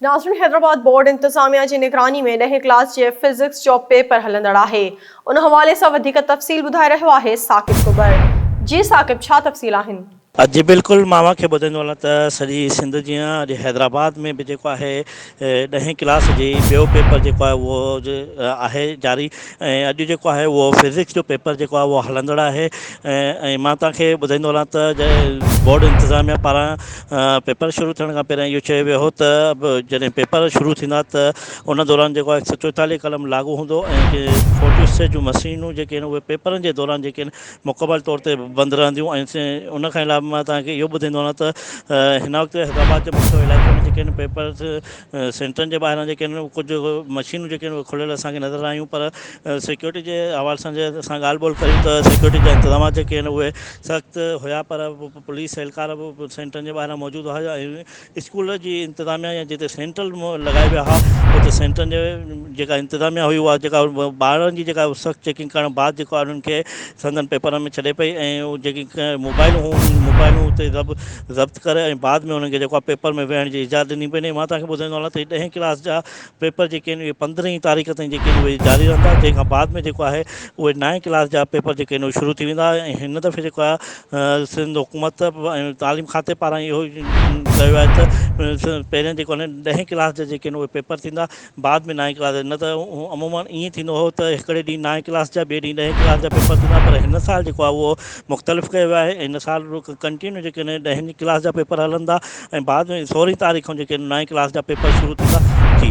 ناظرين حيدرآباد بورڊ انتظاميا جي نگراني ۾ ڏهين ڪلاس جي فزڪس جو پيپر هلندڙ آهي ان حوالي سان وڌيڪ تفصيل ٻڌائي رهيو آهي ثاقب ڪٻر جي ثاقب ڇا تفصيل آهن. جي بلڪل مان اوهان کي ٻڌائيندو هلان ته سڄي سنڌ جيان اڄ حيدرآباد ۾ به جيڪو آهي ڏهين ڪلاس جي ٻيو پيپر جيڪو آهي اهو آهي جاري. ۽ اڄ جيڪو آهي اهو فزڪس جو پيپر جيڪو آهي اهو هلندڙ آهي ۽ مان توهان کي ٻڌائيندو هلان ته جڏهن بورڊ انتظاميا پاران پيپر شروع ٿيڻ کان پهريان اهو چيو ويو هو ته جڏهن پيپر شروع ٿيندا ته ان دوران جيڪو آهي هڪ سو چوئيتاليهه قلم لاڳو هوندو ۽ جي فوٽو اسٽيٽ جون مشينون جيڪي آهن اهي پيپرن جي دوران جيڪي آهن مڪمل طور تي بند رهنديون ۽ ان کان علاوه مان توهان کي اهو ٻڌائيندو هلان ته هن وقت حيدرآباد جي مکيه علائقي ۾ جيڪي آهن پيپرز سينٽرن جي ٻاهران جيڪي آهن ڪجهه مشينون جيڪي آهن اهي کليل اسان کي نظر آيون پر سيڪيورٽي جي حوالي سان جي اسان ڳالهه ٻولهه ڪريون ته سيڪيورٽي جا انتظامات جيڪي آهن اهي سخت هيا پر پوليس اهلڪار به سينٽرن جي ٻاهران موجود هئا ۽ اسڪول جي انتظاميا يا جتي سينٽر لڳايا ويا هئا اتي سينٽرن جي جيڪا انتظاميا هئي اها جيڪا ٻارن جي جيڪا سخت چيڪنگ ڪرڻ بعد جيڪو انهن کي سندن پيپرن ۾ ڇڏي پئي ۽ جيڪي موبائلون هيون انهن موبائلون اتي ضبط ڪري ۽ بعد ۾ انهن کي جيڪو آهي پيپر ۾ ويهڻ جي اجازت ڏني پئي مان توهان کي ٻڌائيندو هلان ته هي ڏهين ڪلاس جا پيپر جيڪي آهن اهي پندرهين تاريخ تائين جيڪي آهن اهي جاري رهندا جنهن کان بعد ۾ جيڪو آهي اهي نائين ڪلاس جا پيپر جيڪي آهن اهي شروع ٿي ويندا ۽ هن دفعي جيڪو آهي سنڌ حڪومت ۽ تعليم کاتي پاران اهو چيو آهي ته پهريان جيڪو آهن ڏهين ڪلاس جا جيڪي آهن اهي پيپر ٿيندا بعد ۾ نائين ڪلاس جا نه ته عموماً ائين ٿيندو هو ته هڪڙي ڏينهن نائين ڪلاس جا ٻئي ڏينهن ڏهين ڪلاس جا پيپر ٿيندا پر هن سال جيڪو آهي اهو مختلف ڪيو ويو آهي ۽ هن سال ڪنٽينيو جيڪي آهن ڏهين ڪلاس جا پيپر هلندا ۽ بعد ۾ سورهين تاريخ کان جيڪي نائين ڪلاس جا پيپر شروع ٿيندا جي